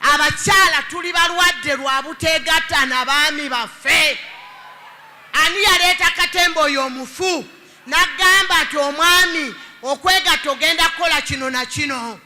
abakyala tuli balwadde lwa buteegatta na baami baffe ani yaleeta katemba oyo omufu nagamba nti omwami okwegatta ogenda kukola kino na kino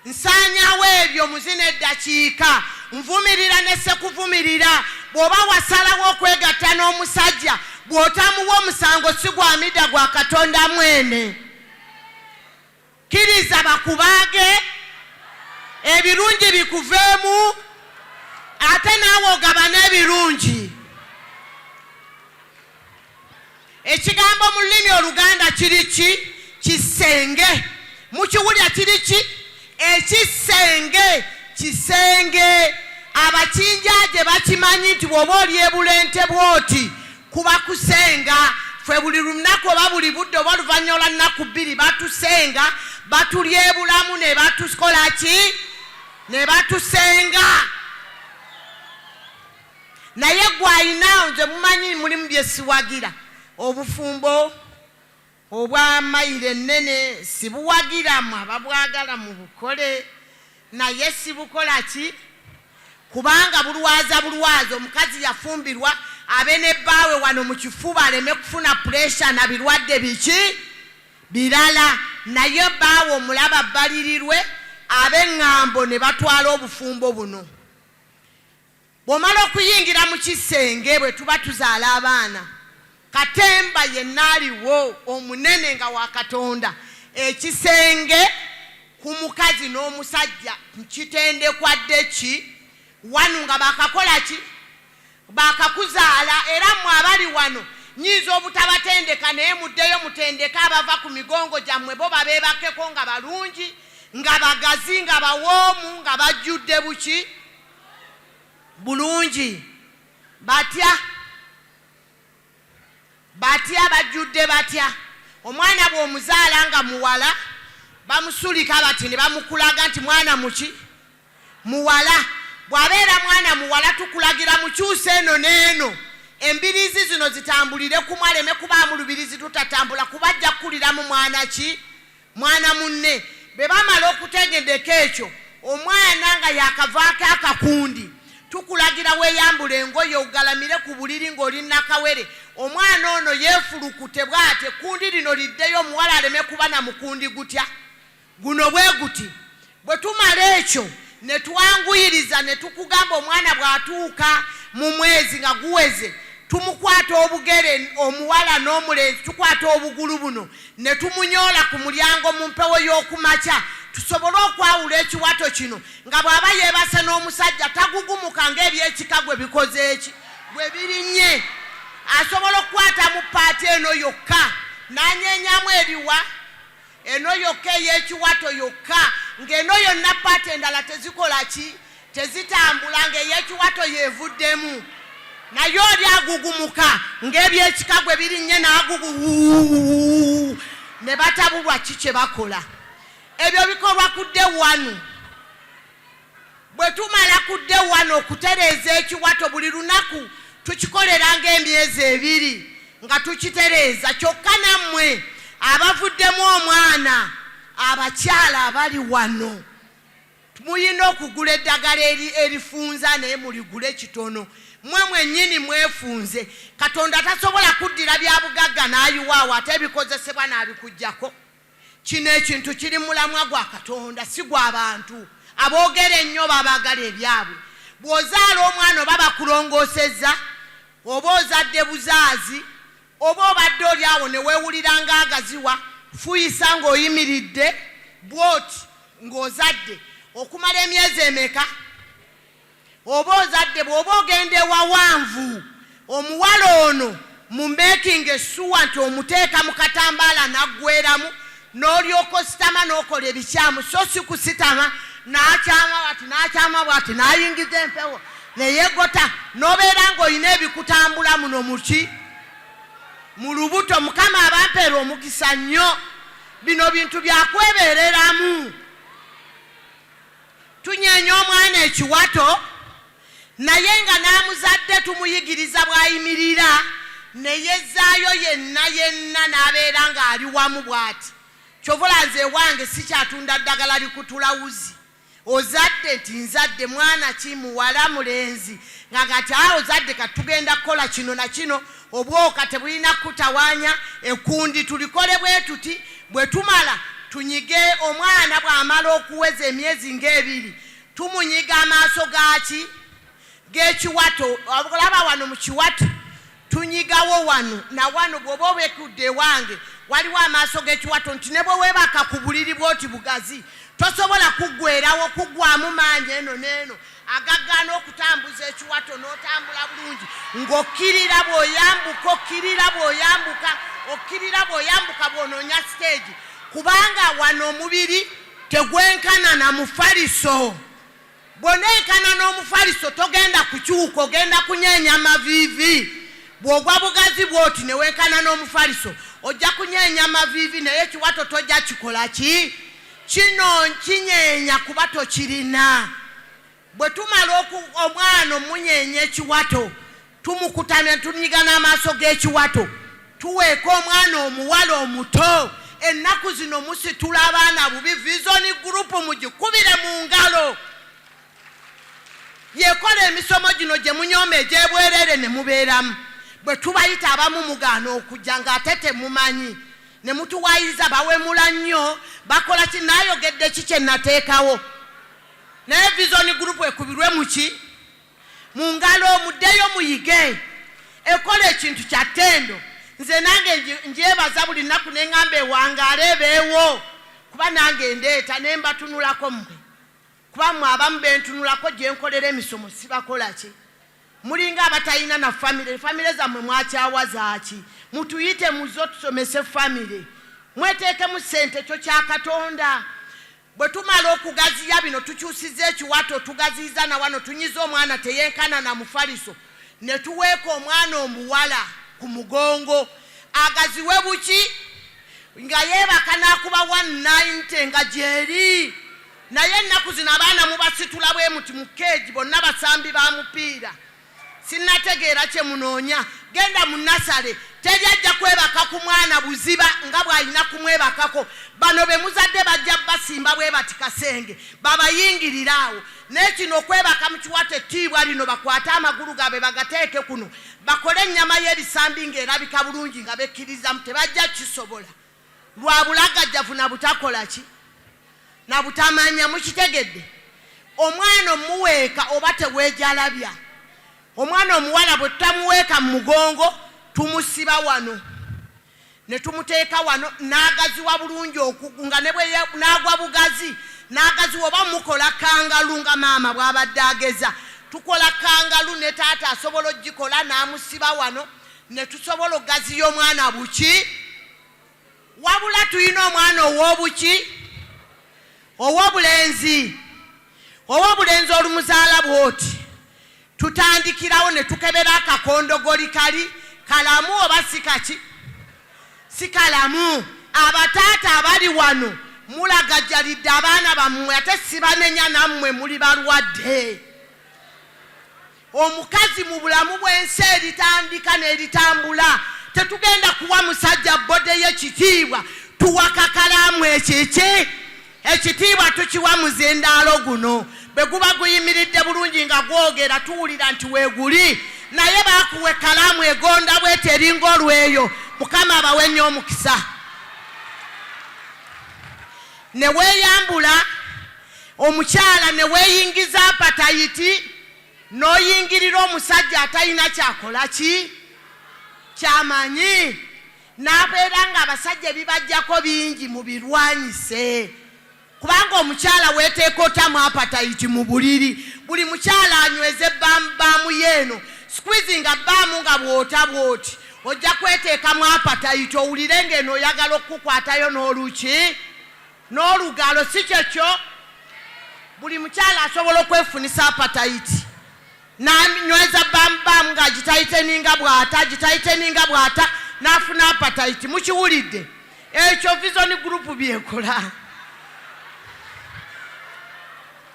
nsaanyawo ebyo muzina eddakiika nvumirira ne sekuvumirira bw'oba wasalawo okwegatta n'omusajja bw'otamuwa omusango si gwamidda gwa katonda mwene Kkiriza bakubaage, ebirungi bikuveemu, ate naawe ogabane ebirungi. Ekigambo mu lulimi Oluganda kiri ki? Kisenge. Mukiwulira kiri ki? Ekisenge, kisenge. Abakinjaaje bakimanyi nti bw'oba oli e Bulente bw'oti, Kuba kusenga ffe buli lunaku oba buli budde oba oluvannyuma lwa nnaku bbiri batusenga batulyebulamu ne batukola ki ne batusenga naye gwe ayina nze mumanyi mulimu byesiwagira obufumbo Obwa mayiro ennene sibuwagira mwe ababwagala mubukole naye sibukola ki kubanga bulwaza bulwaza omukazi yafumbirwa abe ne bbaawe wano mu kifuba aleme kufuna puresha na birwadde biki birala naye bbaawe omulaba bbalirirwe ab'eŋŋambo ne batwala obufumbo buno Bw'omala okuyingira mu kisenge bwe tuba tuzaala abaana, katemba yenna aliwo omunene nga wa Katonda. Ekisenge ku mukazi n'omusajja kitendekwa dde ki? Wanu nga baakakola ki? Baakakuzaala era mmwe abali wano nnyinza obutabatendeka naye muddeyo mutendeke abava ku migongo gyammwe bo babeebakeko nga balungi nga bagazi nga bawoomu nga bajjudde buki bulungi batya batya bajjudde batya omwana bw'omuzaala nga muwala bamusulika bati ne bamukulaga nti mwana muki muwala bw'abeera mwana muwala tukulagira mukyusa eno n'eno embirizi zino zitambulire kumu aleme kubaamu lubirizi tutatambula kuba ajja kukuliramu mwana ki mwana munne. Bwe bamala okutegedeka ekyo omwana nga yaakavaako akakundi, tukulagira weeyambule engoye ogalamire ku buliri ng'oli nnakawere. Omwana ono yeefulukute bw'ati, ekkundi lino liddeyo, omuwala aleme kuba na mukundi gutya. Guno bwe guti. Bwe tumala ekyo ne twanguyiriza ne tukugamba omwana bw'atuuka mu mwezi nga guweze tumukwata obugere omuwala n'omulenzi tukwata obugulu buno ne tumunyoola ku mulyango mu mpewo y'oku makya tusobole okwawula ekiwato kino nga bw'aba yeebase n'omusajja tagugumuka ng'ebyekika gwe bikoze eki gwe birinnye asobola okukwata mu paati eno yokka n'anyeenyamu ebiwa Eno yokka eyekiwato yokka ng'eno yonna paati endala tezikola ki tezitambula ng'eyekiwato yevuddemu naye oli agugumuka ng'ebyekika gwe birinnye n'agugu ne batabulwa ki kye bakola ebyo bikolwa kudde wanu Bwe tumala ku day one okutereeza ekiwato buli lunaku tukikolera ng'emyezi ebiri nga tukitereeza kyokka nammwe abavuddemu omwana abakyala abali wano mulina okugula eddagala erifunza naye muligule kitono mwe mwennyini mwefunze katonda tasobola kuddira bya bugagga n'ayiwaawo ate ebikozesebwa n'abikugyako Kino ekintu kiri mu mulamwa gwa Katonda, si gwa bantu. Aboogera ennyo oba abaagala ebyabwe. Bw'ozaala omwana oba bakulongoosezza, oba ozadde buzaazi, oba obadde oli awo ne weewulira ng'agaziwa, fuuyisa ng'oyimiridde bw'oti ng'ozadde. Okumala emyezi emeka? Oba ozadde bwoba ogenda ewawanvu omuwala ono mu making sure nti omuteeka mu katambaala naggweramu n'olyoka ositama n'okola ebikyamu so si kusitama n'akyama bwati n'akyama bwati n'ayingiza empewo neyegota n'obeera ng'olina ebikutambula muno muki mu lubuto mukama abampeera omukisa nnyo bino bintu byakwebereramu Tunyeenya omwana ekiwato naye nga n'amuzadde tumuyigiriza bw'ayimirira ne yezzaayo yenna yenna n'abeera ng'ali wamu bw'ati. Kyova olaba nze ewange sikyatunda ddagala likutula wuzi. Ozadde nti nzadde mwana ki, muwala, mulenzi? Nga kati ozadde kati tugenda kukola kino na kino, Obwoka tebulina kutawaanya ekkundi. Tulikole bwe tuti, bwe tumala tunyige omwana bw'amala okuweza emyezi ng'ebiri, tumunyiga amaaso ga ki? G'ekiwato. Olaba wano mu kiwato, tunyigawo wano na wano. Bw'oba obekudde ewange, waliwo amaaso g'ekiwato nti ne bwe weebaka ku buliri bw'oti bugazi, tosobola kuggweerawo, kuggwaamu maanyi eno n'eno. agagaana okutambuza ekiwato n'otambula bulungi ng'okkirira bw'oyambuka okkirira bw'oyambuka okkirira bw'oyambuka bw'onoonya siteegi kubanga wano omubiri tegwenkana na mufaliso bw'oneekana n'omufaliso togenda kukyuka ogenda kunyeenya amaviivi bw'ogwa bugazi bw'oti ne wenkana n'omufaliso ojja kunyeenya amaviivi naye ekiwato tojja kikola ki Kino nkinyeenya kuba tokirina. Bwe tumala omwana omunyeenya ekiwato, tumukutamya ne tunyiga n'amaaso g'ekiwato. Tuweeka omwana omuwala omuto. Ennaku zino musitula abaana bubi, Vision Group mugikubire mu ngalo. Yekola emisomo gino gye munyooma egy'ebwereere ne mubeeramu. Bwe tubayita abamu mugaana okujja ng'ate temumanyi. nemutuwayiza bawemula nnyo bakola ki nayogedde ki kyenateekawo naye vision group ekubirwe muki mu ngalo muddeyo muyige ekola ekintu kya ttendo nze nange njebaza buli nnaku neŋŋamba ewangaala ebeewo kuba nange ndeeta ne mbatunulako mmwe Kuba mwe abamu bentunulako jenkolera emisomo sibakolaki mulinga abatayina na family family zamwe mwakyawa zaki mutuyite muzo tusomese family mwetekemu sente ekyo kyakatonda bwetumala okugaziya bino tukyusiza ekiwato tugaziyiza nawano tunyiza omwana teyenkana na mufaliso netuweeka omwana omuwala ku mugongo agaziwe buki nga yebaka nakuba 190 nga gyeri Naye ennaku zino abaana mubasitula bwe muti mu keegi bonna basambi ba mupiira. Sinnategeera kye munoonya. Genda mu nasale teri ajja kwebaka ku mwana buziba nga bw'alina kumwebakako. Bano be muzadde bajja basimba bwe bati kasenge babayingirire awo. Naye kino okwebaka mukiwate ettiibwa lino bakwate amagulu gaabwe bagateeke kuno bakole ennyama y'ebisambi ng'erabika bulungi nga bekkiririzaamu tebajja kisobola. lwa bulagajjavu na butakola ki na butamanya. Mukitegedde? Omwana omuweeka oba teweejalabya. Omwana omuwala bwe tutamuweeka mu mugongo tumusiba wano ne tumuteeka wano n'agaziwa bulungi okugu nga ne bwe n'agwa bugazi n'agaziwa oba mukola kangalu nga maama bw'abadde ageza tukola kangalu ne taata asobola okugikola n'amusiba wano netusobola okugaziya omwana buki wabula tulina omwana owobuki owobulenzi owobulenzi olumuzaala bwoti tutandikirawo netukebera akakondogoli kali kalamu oba sikaki sikalamu abataata abali wano mulagajalidde abaana bammwe ate sibanenya nammwe muli balwadde Omukazi mu bulamu bw'ensi eritandika n'eritambula, tetugenda kuwa musajja bbode ye kitiibwa, tuwa kakalaamu ekiki? Ekitiibwa tukiwa muzindaalo guno. Bwe guba guyimiridde bulungi nga gwogera tuwulira nti weeguli, naye baakuwa ekkalaamu egonda bweti eringa olweyo, Mukama abawe nnyo omukisa, ne weeyambula. Omukyala ne weeyingiza apatayiti n'oyingirira omusajja atalina kyakola ki kyamanyi n'abeera ng'abasajja ebibajjako bingi mubirwanyise kubanga omukyala weeteeka otamu apatayiti mu buliri buli mukyala anyweze baamu yeeno squeezinga baamu nga bw'ota bw'oti ojja kweteekamu apatayiti owulire ng'eno oyagala okukukwatayo n'oluki N'olugaalo si kye kyo? Buli mukyala asobola okwefunisa apatayiti n'anyweza bbaamubaamu ng'agitayiteninga bw'ata agitayiteninga bw'ata n'afuna apatayiti. Mukiwulidde? Ekyo Vision Group by'ekola.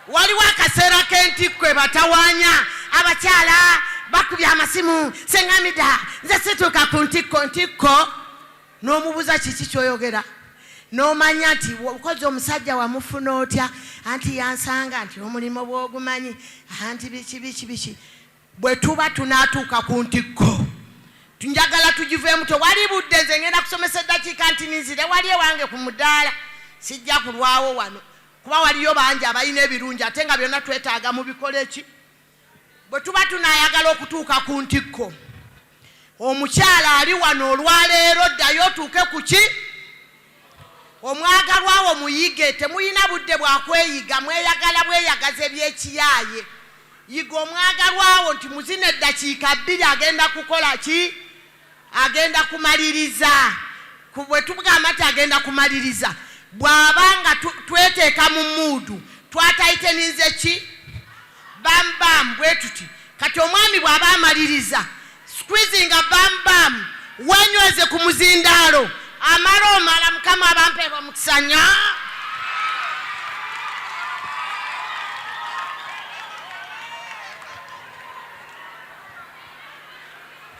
Waliwo akaseera k'entikko ebatawanya abakyala bakubye amasimu, Ssenga Mida, nze situuka ku ntikko. Ntikko? n'omubuza kiki kyoyogera nomanya nti kozi omusajja wamufuna otya anti yansanga nti omulimu bwogumanyi anti biki biki biki bwe tuba tunatuuka ku ntikko njagala tugiveemu tewali budde nze ngenda kusomesa eddakiika nti ninzire wali ewange ku mudaala sijja kulwawo wano kuba waliyo bangi abalina ebirungi ate nga byonna twetaaga mu bikole ki Bwe tuba tunaayagala okutuuka ku ntikko, omukyala ali wano olwaleero, ddayo otuuke ku ki omwagalwa wo muyige. Temulina budde bwa kweyiga, mweyagala bweyagazi eby'ekiyaaye. Yiga omwagalwa wo nti mu zino eddakiika bbiri agenda kukola ki. Agenda kumaliriza ku bwe tugamba nti agenda kumaliriza bw'aba nga tweteeka mu muudu twataiteninze ki bam bam bwe tuti kati omwami bw'aba amaliriza squizinga bam bam wenyweze ku muzindaalo amala omala mukama abampeerwa mukisanya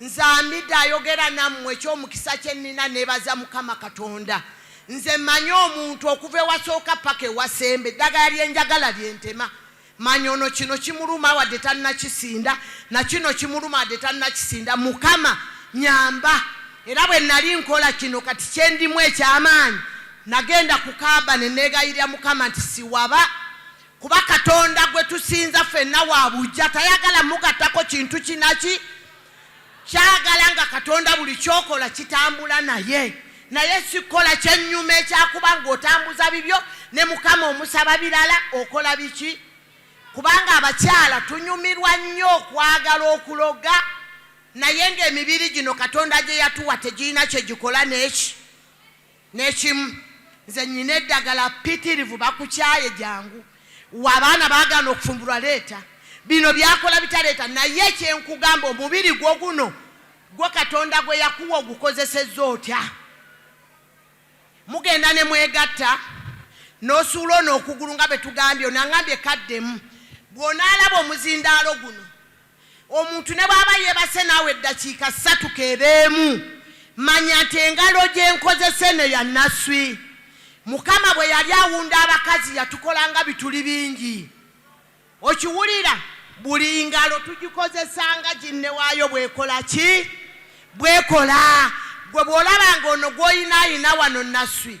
Nze Amida ayogera nammwe eky'omukisa kye nnina neebaza Mukama Katonda. Nze mmanyi omuntu okuva ewasooka paka ewasemba eddagala lye njagala lye ntema. Mmanyi ono kino kimuluma wadde tannakisinda, na kino kimuluma wadde tannakisinda. Mukama nnyamba. Era bwe nnali nkola kino kati kye ndimu eky'amaanyi, nnagenda ku kaaba ne neegayirira Mukama nti siwaba. Kuba Katonda gwe tusinza fenna wa buggya, tayagala mugattako kintu kinaki kyagala nga Katonda buli kyokola kitambula naye naye sikola kyennyuma ekyakuba ng'otambuza bibyo ne Mukama omusaba birala okola biki kubanga abakyala tunyumirwa nnyo okwagala okuloga naye ng'emibiri gino Katonda gye yatuwa tegirina kye gikola n'eki Nekimu nze nyina edagala pitirivu bakukyaye jangu wa abaana bagana okufumbulwa leta bino byakola bitaleta naye ekyenkugamba omubiri gwo guno gwo katonda gwe yakuwa ogukozeseza otya mugenda ne mwegatta nosuula ono okugulu nga betugambye onangambye kaddemu bwonaalaba omuzindaalo guno Omuntu ne bw'aba yeebase naawe eddakiika ssatu k'ebeemu, manya nti engalo gye nkozesa eno ya Naswi. Mukama bwe yali awunda abakazi yatukola nga bituli bingi. Okiwulira? Buli ngalo tugikozesa nga ginne waayo bw'ekola ki? Bw'ekola. Ggwe bw'olaba nga ono gw'olina alina wano Naswi,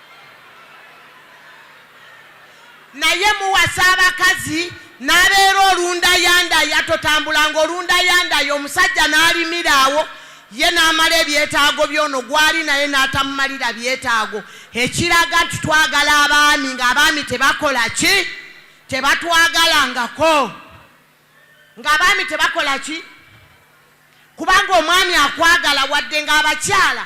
naye muwasa abakazi n'abeera olundayandaya totambulanga olundayandaya omusajja n'alimira awo ye n'amala ebyetaago byono gwali naye n'atamumalira byetaago ekiraga nti twagala abaami ng'abaami tebakola ki tebatwagalangako ng'abaami tebakola ki kubanga omwami akwagala wadde ng'abakyala